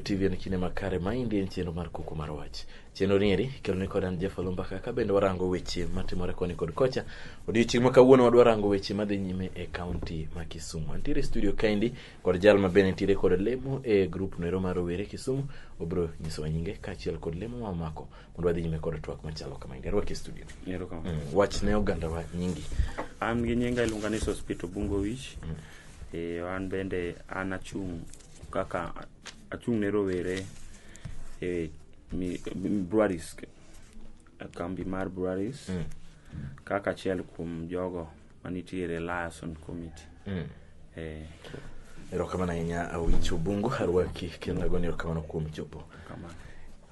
TV en kinde makare ma indi en chenro mar kuku mar wach chenro nieri keloni kod an Jeff Olumbaka ka bende warango weche matimore koni kod kocha odiochieng' ma kawuono wadwa rango weche madhi nyime e kaunti ma Kisumu antiere studio kaendi kod jal ma bende nitiere kod lemo e grup noero mar rowere Kisumu obro nyisowa nyinge kaachiel kod lemo ma omako mondo wadhi nyime kod twak machalo kama indi arwaki e studio Ero kama. mm. wach ne oganda wa nyingi An gi nyinga iluonga ni Sospito Bungo Wich. Mm. Eh, an bende an achung' kaka achung' ne rowere e mi- mi- breweries e kambi mar breweries Mm. kaka achiel kuom jogo manitiere liason committee mm. eh. erokamano ahinya awich obungu arwaki kendo agoni erokamano kuom chopo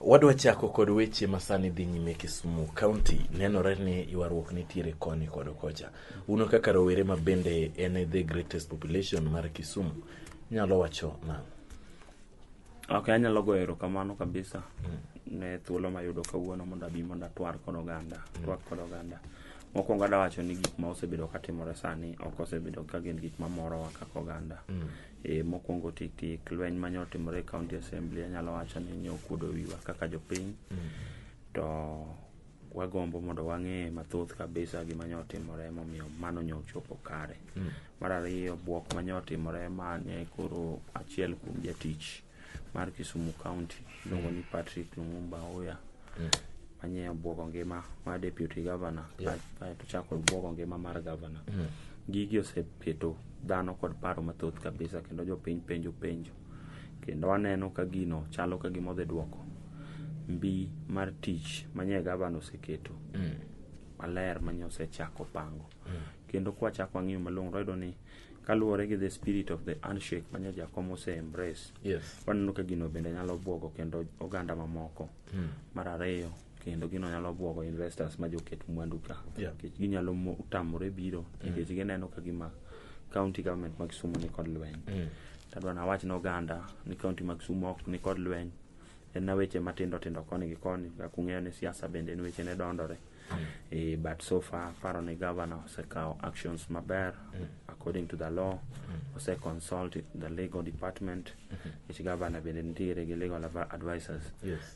wadwa chako kod weche masani dhi nyime kisumu county nenore ni ywaruok nitiere koni kod kocha uno kaka rowere ma bende en the greatest population mar kisumu nyalo wacho nang'o Ok, anyalo goyo erokamano kabisa mm. ne thuolo mayudo kawuono mondo abi mondo atwar kod oganda, mm. twak kod oganda. Mokwongo adwa wacho ni gik ma osebedo katimore sani ok osebedo ka gin gik mamorowa kaka oganda. Mm. E, mokwongo tik tik lweny mane otimore e county assembly anyalo wacho ni nyo okuodo wiwa kaka jopiny. Mm. To wagombo mondo wang'e mathoth kabisa gima nyo otimore momiyo mano nyo ochopo kare. Mm. Mar ariyo bwok ma nyo otimore ma ne koro achiel kuom jatich mar Kisumu County iluongo ni Patrick Lumumba Oya mm. manye obwogo ngima mar deputy governor yeah. kaeto chako obwogo ngima mar governor mm. gigi oseketo dhano kod paro mathoth kabisa kendo jopiny penjo penjo kendo aneno ka gino chalo ka gima odhi dwoko mbi mar tich manye gavana oseketo mm. maler manye osechako pango mm. kendo kwachako ang'iyo malong'o wayudo ni kaluwore gi the spirit of the handshake manye jakom ose embrace yes. waneno ka gino bende nyalo bwogo kendo oganda mamoko mm. mar ariyo kendo gino nyalo bwogo investors ma joket mwandu ka Yeah. nikech ginyalo mo- tamore biro nikech gineno ka gima county government ma Kisumu ni kod lweny tadwa nawach ne oganda ni county ma Kisumu ok ni kod lweny en na weche matindo tindo koni gi koni kaka ung'eyo ni siasa bende en weche ne dondore Eh, but so far paro ni governor osekawo actions maber according to the law ose consult the legal department which governor bende nitiere gi legal advi- advisors Yes.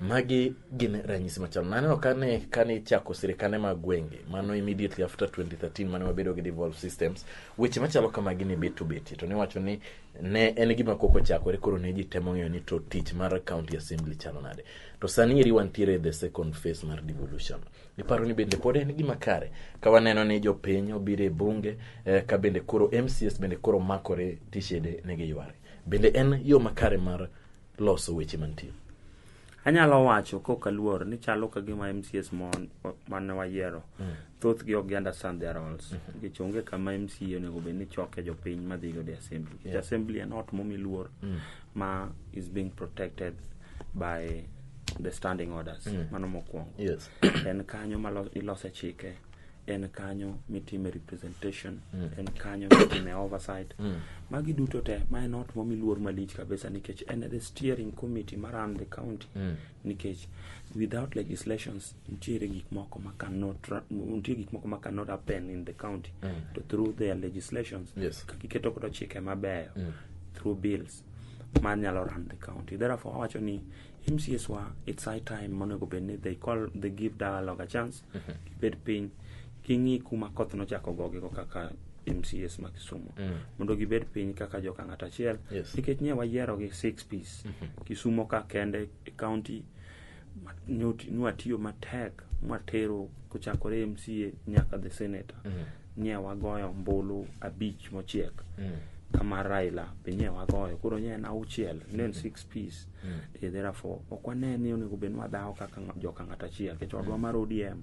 Magi gin ranyisi machal. Naneno kane kane ichako sirikande mag gwenge, mano immediately after 2013 mane wabedo gi devolve systems, weche machalo kamagi ne bet to betie to niwacho ni ne en gima koko chakore koro ne ji temo ng'eyo ni to tich mar county assembly chalo nade. To sani eri wantiere the second phase mar devolution. Iparo ni bende pod en gima kare ka waneno ni jopiny obiro e bunge eh, ka bende koro MCS bende koro makore tishede ne giyware. Bende en yo makare mar loso weche mantie. Anyalo wacho kok aluor ni chalo ka gima MCS mon mane wayiero mm. thoth gi ok understand their roles mm -hmm. nikech onge kama MCA onego bed ni choke jopiny madhi go the assembly yeah. the assembly en ot momi luor mm. ma is being protected by the standing orders mm. mano mokwongo yes. en kanyo ma ilose chike en kanyo mitime representation mm. en kanyo mitime oversight mm. magi duto te ma en ot momi luor malich kabisa nikech en the steering committee ma run the county mm. nikech without legislations nitiere gik moko ma cannot nitie gik moko ma cannot happen in the county mm. to through their legislations yes. kakiketo kodo chike mabeyo mm. through bills ma nyalo run the county therefore awacho ni mcs wa it's high time monego bed ni they call they give dialogue a chance gibed piny ging'i kuma koth nochako gogigo kaka mcs ma kisumu mondo gibed piny kaka joka ng'at achiel Yes. nikech nye wayierogi six piece kisumo ka kende e county nwatiyo matek mwatero kochakore MCA nyaka the senator mm. nye wagoyo mbulu abich mochiek mm. kama Raila be nye wagoyo koro nye en auchiel ne en six piece mm. e therefore ok wane ni onego bed wadhawo kaka joka ng'at achiel kech odwa mm. mar ODM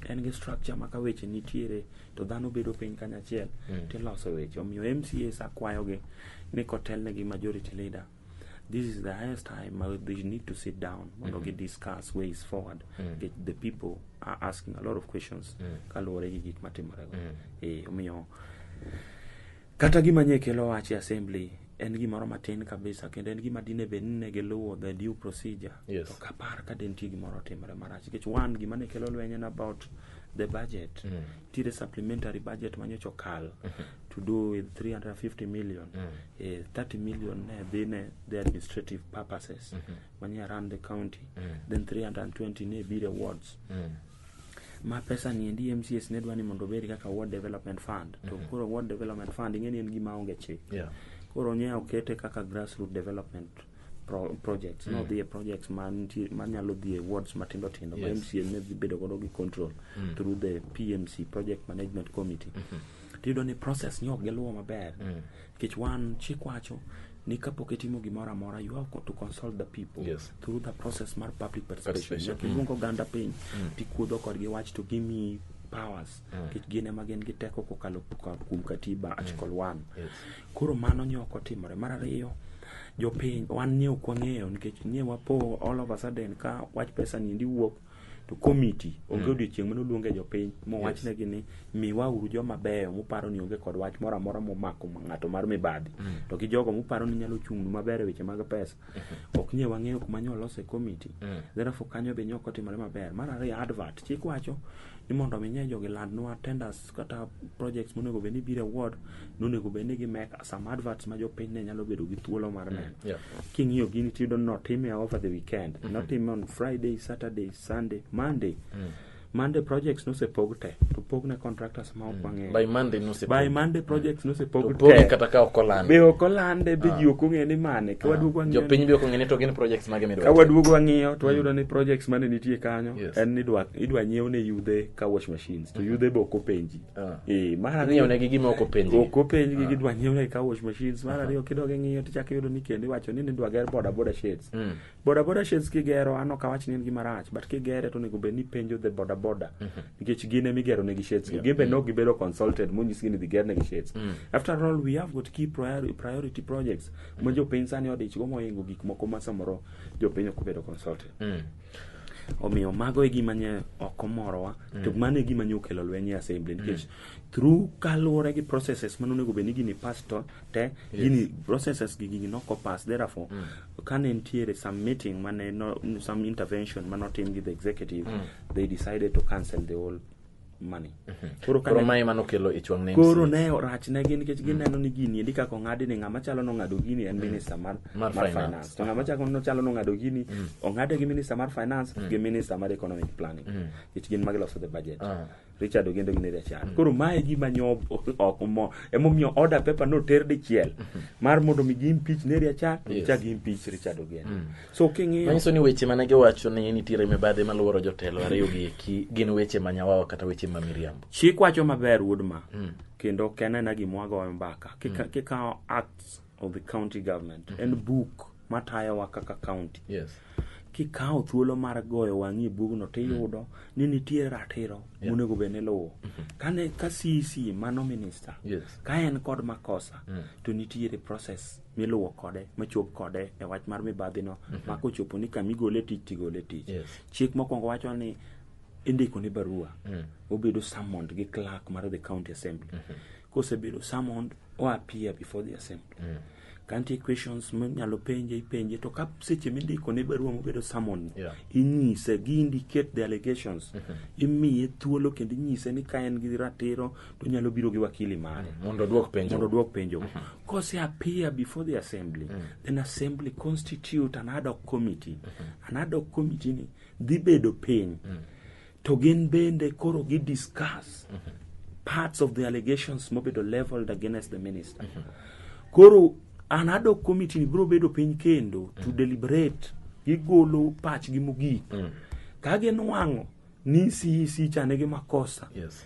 en gi structure ma ka weche nitiere to dhano bedo piny kanyachiel mm. tiloso weche omiyo MCAs akwayogi ni kotelnegi majority leader this is the highest time ma they need to sit down mondo gi discuss ways forward Nikech the people are asking a lot of questions kaluwore gi gik matimore go eh omiyo kata gima nye kelo wach e assembly en gimoro matin kabisa kendo en gima dine bed ni ne giluwo the due procedure Yes. to kapar ka de nitie gimoro otimore marach nikech one gima ne kelo lweny en about the budget nitiere supplementary budget ma nyocha okal to do with 350 million eh, 30 million ne dhi ne the administrative purposes mani around the county then 320 ne biro awards ma pesa ni endi mcs ne dwa ni mondo obed kaka ward development fund to koro ward development fund ing'e ni en gima onge chik Yeah. koro nye okete kaka grassroot development pro- projects no dhi e projects mantie- manyalo dhi e wards matindo tindo ma Yes. MCA ne dhi bedo godo gi control through the PMC project management committee tiyudo ni process ni ok giluwo maber nikech wan chik wacho ni kapok itimo gimoro amora you have to consult the people Yes. through the process mar public participation Participation. nyaka iluong oganda piny tikuodho kodgi wach to gimi powers nikech gin ema gin gi teko kokalo kuom katiba article 1 Yes. koro mano nyoko timore mar ariyo Jopiny wan nie ok wang'eyo nikech nie wapo all of a sudden ka wach pesa ni endi wuok to komiti onge mm. odiochieng' mane oluonge jopiny mowachnegi yes. ni miwa uru joma beyo muparo ni onge kod wach moro amora momako ng'ato mar mibadhi mm. to gi jogo muparo ni nyalo chung'nu maber e weche mag pesa mm-hmm. ok nie wang'eyo kuma nyo olose komiti mm. therefore kanyo be nyok otimore maber mar ariyo advert chik wacho ni mondo mi nye jogi landnwa tenders kata projects monego bed ni biro award nonego bed ni gi make some adverts ma jopiny ne nyalo bedo gi thuolo mar neno yeah. king'iyo gini tiyudo ni notime over the weekend mm -hmm. notime on friday saturday sunday monday mm. monday projects nosepog te to pog ne contractors ma ok Mm. wang'eyo by monday nosepog by monday projects nosepog opogi te kata ka ok olande be ok olande be ji ok ong'e ni mane ka waduogo wang'iyo jopiny be ok ong'e ni to gin projects mage ka midwa waduogo wang'iyo to wayudo ni projects mane nitie kanyo Yes. en ni idwa- idwa nyiew ne yudhe ka wash machines to yudhe be ok openji ah. eh, mar ariyo ne gi gima ok openji ok openji gi ah. gidwa nyiew ne ka wash machines mar ariyo kidog ing'iyo to chak iyudo ni kendo iwacho ni nidwa ger boda boda shades mm. boda boda shades kigero an ok awach ni en gima rach but kigere to onego bed ni penjo the boda boda mm-hmm. nikech gin ema igero ne gi shades gin be mm. nok gibedo consulted monyisgi ni dhi ger ne gi shades mm. after all we have got key priority projects ma mm. jopiny sani odichgo mohingo gik moko ma samoro jopiny ok obedo consulted omiyo mago e gima nye ok omorowa mm. to mano e gima nye okelo lweny e assembly mm. nikech mm. through kaluwore gi processes mane onego bed ni gini pass to te yes. gini processes gi gini noko pass therefore mm. kane nitiere some meeting mane no, some intervention mane otim gi the executive mm. they decided to cancel the whole money. Mhm. Koro kane mai mano kelo ich wang' Koro ne rach ne gin nikech gineno ni gini endi kaka ong'adi ni ng'ama chalo no ng'ado gini en mhm. minister mar mar finance. To ng'ama chako no chalo no ng'ado gini mhm. ong'ade gi minister mar finance gi minister mar economic planning. Nikech gin magiloso the budget. Ah. Richard Ogendo gi Neria Chan. Koro mae gima nyo ok mo emomiyo order paper no ter dichiel mar mondo mi gi impeach Neria Chan, chak gi impeach Richard Ogendo. So king'iyo manyiso ni weche mane giwacho ni nitiere mibadhi maluoro jotelo ariyo gi eki gin weche ma nyawawa kata weche ma miriambo chik wacho maber wuod ma Mm. kendo ok en aena gima wagoyo mbaka Kika- kikawo acts of the county government en buk matayowa kaka county yes kikawo thuolo mar goyo wang'i e bugno tiyudo ni nitie ratiro monego bed ni luwo kane ka cc mano minister yes ka en kod makosa to nitiere process miluwo kode machop kode e wach mar mibadhi no mm -hmm. mako chopo ni kama igole tich tigole tich yes. chik mokwongo wacho ni indiko ni barua mm. obedo summoned gi clerk mar the county assembly mm -hmm. kosebedo summoned o appear before the assembly mm. kantie questions minyalo penje ipenje to ka seche mindiko ne barua mobedo summon yeah. inyise gi indicate the allegations mm -hmm. imiye thuolo kendo inyise ni ka en gi ratiro to nyalo biro gi wakili mare mm, mondo odwok penjo mondo odwok penjo mm -hmm. kose appear before the assembly mm -hmm. then assembly constitute an ad hoc committee mm -hmm. an ad hoc committee ni dhi bedo piny mm -hmm. to gin bende koro gi discuss mm -hmm. parts of the allegations mobedo leveled against the minister mm -hmm. koro an ad hoc committee ni biro bedo piny kendo mm -hmm. to deliberate gigolo pachgi mogik mm -hmm. ka ginwang'o ni CEC chane gi makosa yes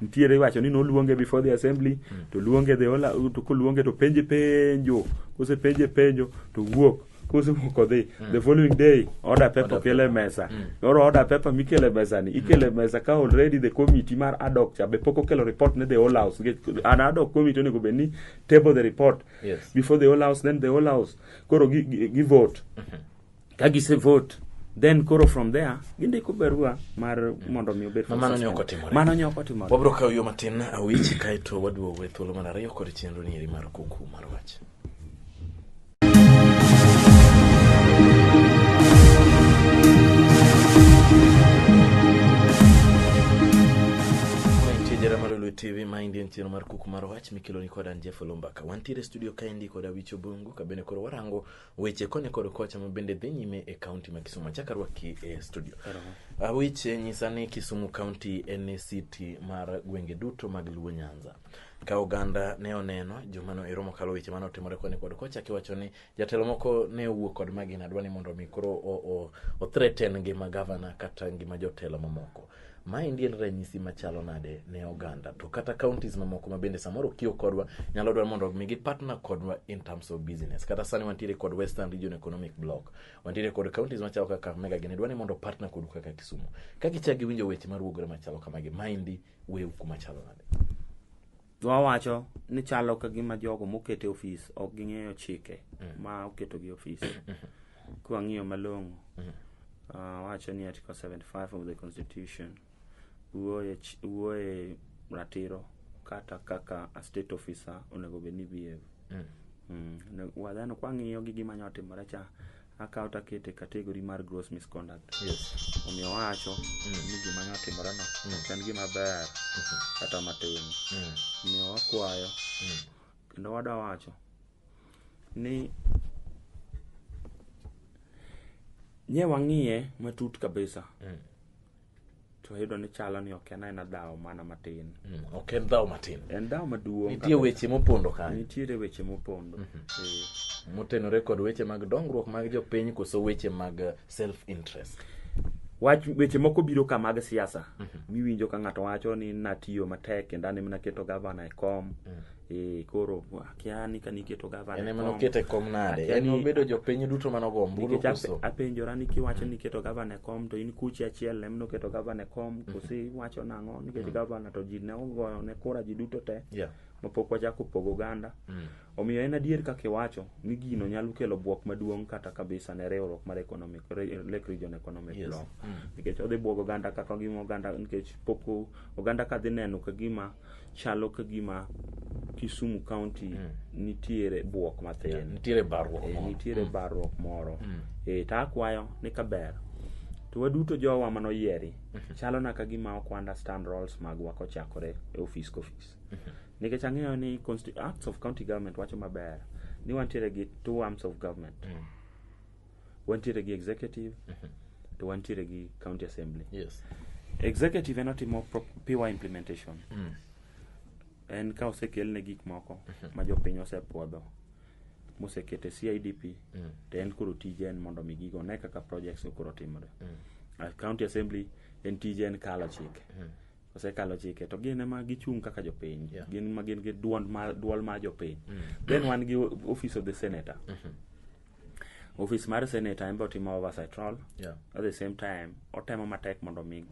nitiere iwacho ni noluonge before the assembly mm. to luonge the ola to koluonge to penje penjo kose penje penjo to wuok kose wuok odhi mm. the following day order paper okele mesa mm. noro order paper mikele mesa ni ikele mm. mesa ka already the committee mar adok cha be pok okelo report ne the whole house an adok committee onego bed ni table the report yes. before the whole house then the whole house koro gi, gi, gi vote mm -hmm. ka gise vote then koro from there gindiko barua mar mondo mi obed mano ne ok otimore mano ne ok otimore wabro kawo yo matin awich kaeto waduogo e thuolo mar ariyo kod chenro ni eri mar kuku mar wach jera mar Lulu TV ma indien chiro mar kuku mar wach mikelo ni kodan Jeff Lombaka. Wantiere studio kaendi kod Awicho Bungu kabene koro warango Weche koni kod kocha ma bende dhi nyime e kaunti ma Kisumu. Achak arwaki e studio. Ah, Weche nyisa ni Kisumu kaunti en e siti mar gwenge duto mag Luo Nyanza. Ka oganda ne oneno juma no ero mokalo weche mane otimore koni kod kocha kiwacho ni jatelo moko ne owuok kod magina dwa ni mondo mi koro o- o- o threaten ngima gavana kata ngima jotelo mamoko. Maendi en ranyisi machalo nade ne oganda to kata counties mamoko ma bende samoro kiyo kodwa nyalo dwaro mondo mi gi partner kodwa in terms of business. Kata sani wantiere kod Western Region Economic Block. Wantiere kod counties machalo kaka Kakamega gini dwani mondo partner kodu kaka Kisumu. Ka gichak giwinjo weche maruogore machalo kamagi, maendi wew kuma chalo nade? Dhwa wacho ni chalo ka gima jogo mokete ofis ok ging'eyo chike ma oketogi ofis. Kwang'iyo malong'o, ah, wacho ni Article 75 of the Constitution wuoye ch- wuoye ratiro kata kaka a state officer onego bed ni behave. Mm. Ne- Wadhano kwang'iyo gi gima nyotimore cha akawo to akete category mar gross misconduct yes omiyo awacho Mm. ni gima ne otimoreno Mm. ok en gima ber Mhm. kata matin Mm. omiyo wakwayo Mm. kendo wada wacho ni nye wang'iye matut kabisa Mm. to ayudo ni chalo ni ok en aena dhawo mana matin mm, ok en dhawo matin en dhawo maduong' nitie weche mopondo kanyo nitiere weche mopondo mhm. eh. motenore kod weche mag dongruok mag jopiny koso weche mag eh, self interest wach weche moko biro ka mag siasa mhm. miwinjo ka ng'ato wacho ni natiyo matek kendo an ema naketo gavana e kom mm. Eh, koro akia ni ka niketo gavana en ema nokete e kom nade en obedo jopiny duto mane ogo ombulu koso apenjora ni kiwacho ni keto gavana e kom to in kuchi achiel em noketo gavana e kom mhm. kosi iwacho nang'o nikech mhm. gavana to ji ne ogoyo ne kura ji duto te mapok wachako pogo oganda mhm. omiyo en adier kaka iwacho ni gino nyalo kelo bwok maduong' kata kabisa ne riwruok mar economic lake region economic yes. law nikech odhi bwogo oganda kaka gima oganda nikech pok oganda ka dhi neno ka gima chalo ka gima Kisumu County mm. nitiere buok mathin yeah, nitiere barruok e, nitiere mm. barruok moro mm. e, to akwayo ni ka ber to waduto jowa mano yieri mm -hmm. chalo na ka gima ok understand roles magwa kochakore e office ka office mm -hmm. nikech ang'eyo ni acts of county government wacho maber ni wantiere gi two arms of government mm. wantiere gi executive to wantiere gi county assembly Yes. executive en otimo pro- pure implementation Mm. en ka osekelne gik moko ma jopiny osepwodho mosekete CIDP Mm. to en koro tije en mondo mi gigo ne kaka projects koro timore Mm. A county assembly en tije en kalo chike Mm. osekalo chike to gin ema gichung' kaka jopiny yeah. gin ma gin gi duond ma duol ma jopiny mm. then wan gi office of the senator mm -hmm. office mar senator en botimo timo oversight role yeah. at the same time otemo matek mondo mi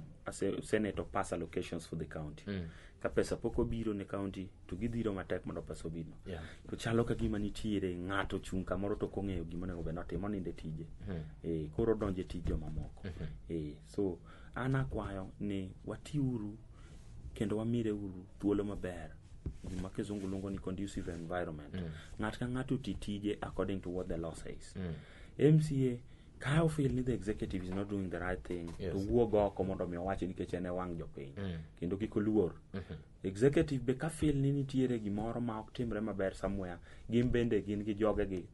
senator pass allocations for the county mm. ka pesa pok obiro ne county to gidhiro matek mondo pesa obino yeah. to chalo ka gima nitiere ng'ato chung' kamoro to kong'eyo gima onego bed notimo ninde tije mm. e, koro donje tije mamoko mm -hmm. e, so An akwayo ni watiuru kendo wamire uru thuolo maber gima kizungu luongo ni conducive environment mm. ng'at ka ng'ato ti tije according to what the law says mm. mca ka ofil ni the executive is not doing the right thing yes. to wuog oko mondo mi owachi nikech en e wang' jopiny mm. kendo kik oluor mm -hmm. executive be ka fil ni nitiere gimoro ma ok timre maber somewhere gin bende gin gi jogegi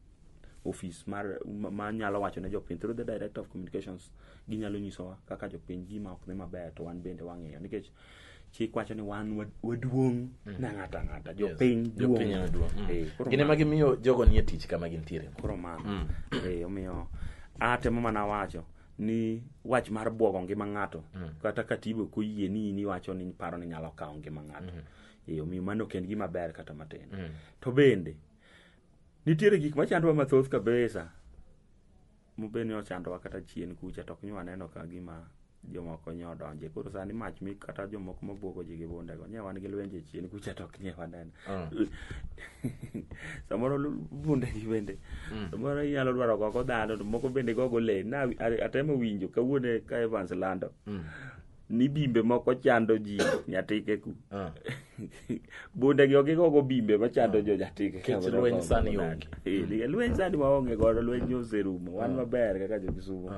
ofis mar ma nyalo wacho ne jopiny through the director of communications ginyalo nyisowa kaka jopiny gima ok dhi maber to wan bende wang'iyo nikech chik wacho ni wan wa- waduong' na ng'ato ang'ata jopiny Jopiny ema duong' duong'. Eh, koro Gin ema mano- gimiyo jogo nie tich kama gintiere. koro mano Eh, omiyo atemo mana wacho ni wach mar bwogo ngima ng'ato kata katibo koyie ni in iwacho ni paro ni nyalo kawo ngima ng'ato Eh, omiyo mano ok en gima ber kata matin to bende Nitiere gik machandowa mathoth kabisa mobed ni ochandowa kata chien kucha to ok nywa neno ka gima jomoko nye odonje koro sani mach mi kata jomoko mabwogo ji gi bundego nye wan gi lwenje chien kucha to ok nye waneno Mm. samoro lu- bundegi bende Mm. samoro inyalo dwaro gogo dhano to moko bende gogo le na a- atemo winjo kawuone ka evans lando Mm. ni bimbe moko chando ji nyatike ku ah. bunde gi ogi gogo bimbe machando ah. jo nyatike kech lweny sani onge eh, lweny sani waonge godo lweny oserumo wan ah. maber kaka jo kisumu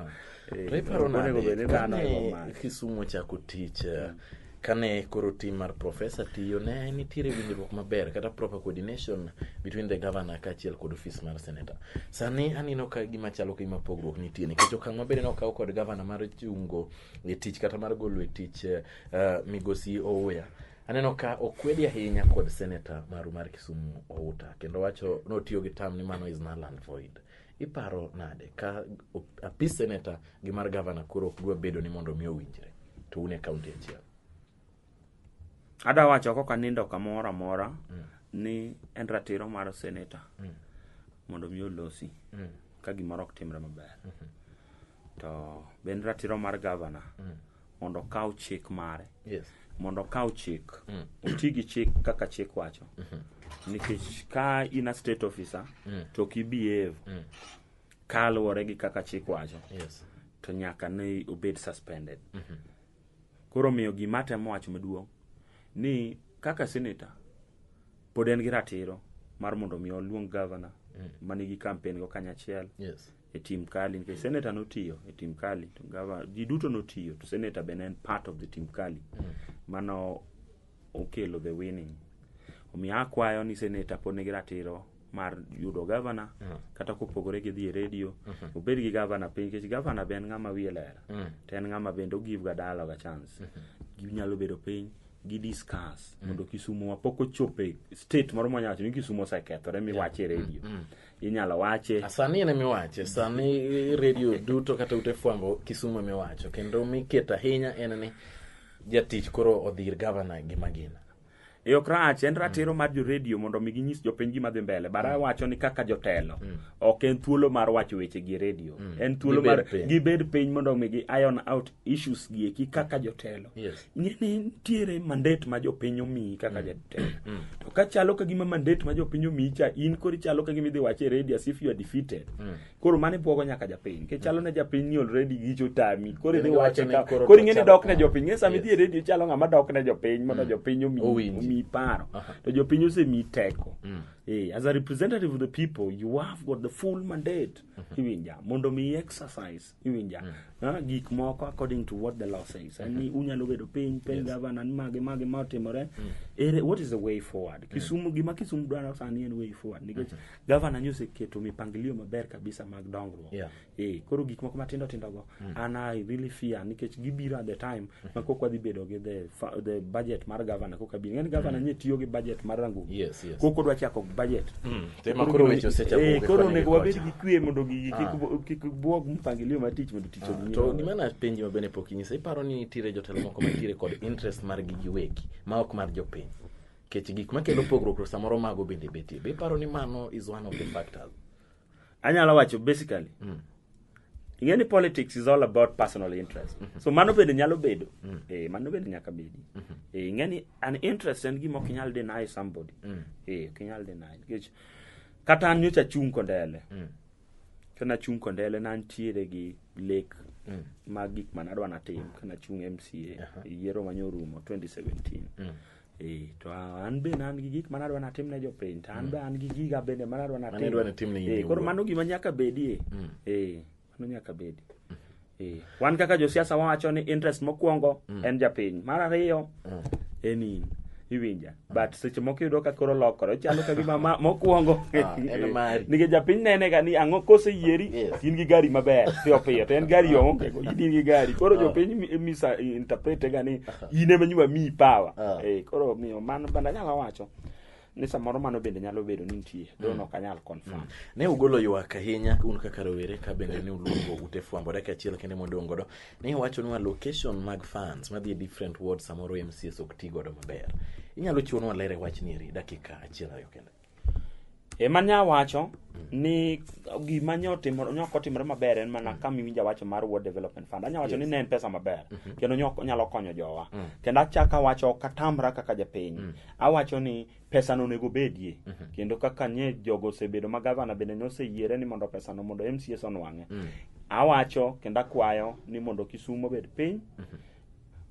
eh, iparo nade kisumu ochako tich eh, hmm. kane koro tim mar profesa tiyo ne nitiere winjruok maber kata proper coordination between the governor kaachiel kod ofis mar senator sani aneno ka gima chalo kagima pogruok nitie nikech okang' maber ne okaw kod governor mar chungo e tich kata mar golo e tich eh, eh, migosi Ouya aneno ka okwedi ahinya kod seneta maru mar Kisumu Outa kendo wacho notiyo gi tam ni mano is null and void iparo nade ka o- apis seneta gi mar gavana koro ok dwa bedo ni mondo mi owinjre to un e kaunti achiel adwa wacho kok anindo kamoro amora ni en ratiro mar seneta mondo mi olosi ka gimoro ok timre maber to be en ratiro mar gavana mondo okaw chik mare Yes. mondo okaw chik oti gi chik kaka chik wacho nikech ka in a state officer to ok ibehave kaluwore gi kaka chik wacho Yes. to nyaka ne obed suspended koro miyo gima atemo wacho maduong' ni kaka senator pod en gi ratiro mar mondo mi oluong gavana manigi kampen go kanyachiel Yes. e team Kali nikech senator notiyo e team Kali to gava ji duto notiyo to senator be ne en part of the team Kali mano okelo the winning omiyo akwayo ni senator pod nigi ratiro mar yudo gavana kata kopogore gi dhi e redio obed gi gavana piny nikech gavana be en ng'ama wiye ler to en ng'ama bende ogive ga dialogue a chance ginyalo bedo piny gi discuss mondo Kisumo wa pok ochopo e state moro mwanyawacho ni Kisumo osekethore miwache e redio inyalo wache sani en emiwache sani redio duto kata ute fwambo kisumu emiwacho kendo miketo ahinya en ni jatich koro odhir gavana gi magina e ok rach en ratiro mar joredio mondo omi ginyis jopiny gima dhi mbele bara mm. wacho ni kaka jotelo mm. ok en thuolo mar wacho weche gi redio mm. en thuolo mar gibed piny mondo omi gi iron out issues gi eki kaka jotelo yes. ing'eni nitiere mandet ma jopiny omiyi kaka mm. jatelo mm. to ka chalo ka gima mandet ma jopiny omiyi cha in kori chalo ka gima idhi wache e radio as if you are defeated mm. koro mane bwogo nyaka japiny ke chalo ne japiny ni already gicho tami koro idhi wache ka koro ing'eni dok ne jopiny ng'e sama idhi e radio chalo ng'ama dok ne jopiny mondo jopiny omiyi paro to jopiny osemiyi teko Hey, eh, as a representative of the people, you have got the full mandate, mm-hmm. Hiwinja, mondo mi exercise iwinja mm. Ah, gik moko according to what the law says mm -hmm. unyalo bedo piny piny yes. gavana ni mage mage ma otimore mm. ere what is the way forward mm. kisumu gima kisumu dwaro sani en way forward nikech mm -hmm. gavana ni oseketo mipangilio maber kabisa mag dongruok yeah. e, koro gik moko matindo tindo go mm. and i really fear nikech gibiro at the time ma kok wadhi bedo gi the, fa- the budget mar gavana koka bi ng'eni gavana nye tiyo gi budget mar rangu Yes, yes. kok odwa chako budget Mm, to ema koro weche osechapo Eh, gi koro koni gi onego wabed kocha. gi kwe mondo gigi kik bu- kik buog mpangilio mar tich mondo tich odhi nyime to maber. gima na penji ma bende pok inyisa iparo ni nitiere jotelo moko mantiere kod interest mar gi giwegi ma ok mar jopiny kech gik makelo pogruok to samoro mago bende betie be iparo ni mano is one of the factors anyalo wacho basically mm. ing'e ni politics is all about personal interest mm -hmm. so mano bende nyalo bedo mm -hmm. eh, mano bende nyaka bedi mm -hmm. eh, ing'e ni an interest en gima ok inyal deny somebody mm -hmm. eh, ok inyal deny nikech kata an nyocha chung' kondele mm -hmm. kana chung' kondele nantiere gi lek mm -hmm. mag gik manadwa natim kana chung' mca uh -huh. yiero manyorumo 2017 mm -hmm. Eh, to an bende an gi gik manadwa natim ne jopiny to an be an gi giga bende manadwa natim Manidwa natim ne in Eh, koro iwuon. mano gima nyaka bedie Mm. Eh, mano nyaka bedi Eh, wan kaka josiasa wawacho ni interest mokwongo en japiny mar ariyo Mm. en in iwinja but seche moko iyudo ka koro lokore chalo ka gima ma- mokwongo Ah, en mari. nikech japiny nene ga ni ang'o kose yieri Yes. in gi gari maber piyo piyo to en gari oonge go in gi gari koro Ah. jopiny mi- misa interprete ga ni in ema nyima miyi power Ah. eh koro omiyo mano bende anyalo wacho ni samoro mano bende nyalo bedo ni nitie don ok anyal confirm ne ugolo ywak ahinya un kaka rowere ka bende ne uluongo ute fwambo dakika achiel kende modong' godo ne iwachonwa location mag fans madhi e different ward samoro mcs ok ti godo maber inyalo chiwonwa ler e wachni eri dakika achiel ariyo kende Ema nya wacho ni gima nyo timo nyo kotimre maber en mana kama iwinja wacho mar World Development Fund. Anya wacho ni ne en pesa maber kendo nyo nyalo konyo jowa. Kendo achaka wacho katamra kaka japiny. Awacho ni pesa no onego bedie kendo kaka nye jogo osebedo ma gavana bende noseyiere ni mondo pesa no mondo MCS onwang'e. Awacho kendo akwayo ni mondo Kisumo obed piny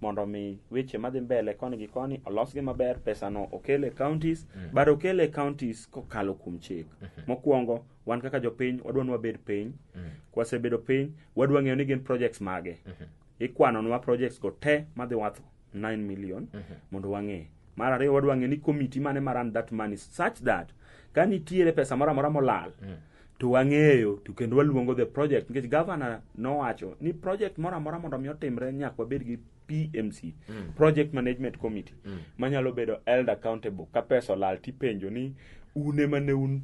mondo mi weche madhi mbele koni gi koni olosgi maber pesano okel e counties mm. but okel e counties kokalo kuom chik mm -hmm. mokwongo wan kaka jopiny wadwa ni wabed piny mm -hmm. kwasebedo piny wadwa ng'eyo ni gin projects mage mm -hmm. ikwanonwa projects go te madhi wath 9 million mm -hmm. mondo wang'e mar ariyo wadwa ng'e ni committee mane maran that money such that ka nitiere pesa moro amora molal mm -hmm. to wang'eyo to kendo waluongo the project nikech governor nowacho ni project moro amora mondo mi otimre nyaka wabed gi PMC mm. project management committee mm. manyalo bedo held accountable ka pesa olal tipenjo ni un ema ne un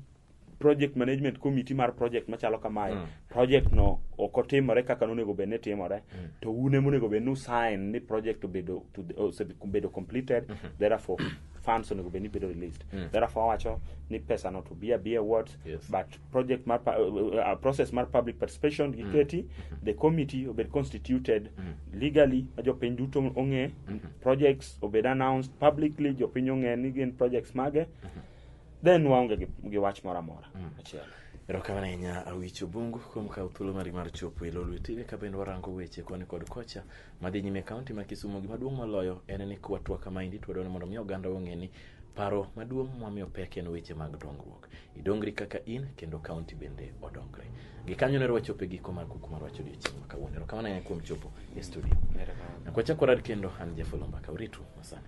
project management committee mar project machalo kamae mm. project no ok otimore kaka nonego bed ni timore mm. to un ema onego bed ni usign ni project obedo to the- osebedo completed therefore funds onego bed ni bedo released therefore wacho ni pesa no to be a be a what Yes. but project mar pa- uh, uh, process mar public participation giketi the committee obed constituted legally ma jopiny duto ong'e projects obed announced publicly jopiny ong'e ni gin projects mage then waonge gi, gi wach moro amora achiel erokamano ahinya awich obungu kuom kawo thuolo mari mar chopo e lo lwetine ka bende warango weche koni kod kocha madhi nyime e kaonti ma kisumo gimaduong' moloyo en ni kwatwa kamaendi twadwa ni mondo mi oganda ong'e ni paro maduong' mwamiyo pek en weche mag dongruok idongri kaka in kendo kaunti bende odongre gikanyo ne rwachopo e giko mar kuku mar wacho odiochieng' ma kawuono erokamano ahinya kuom chopo e studio nakwachako rad kendo an jafolomba ka uritu masani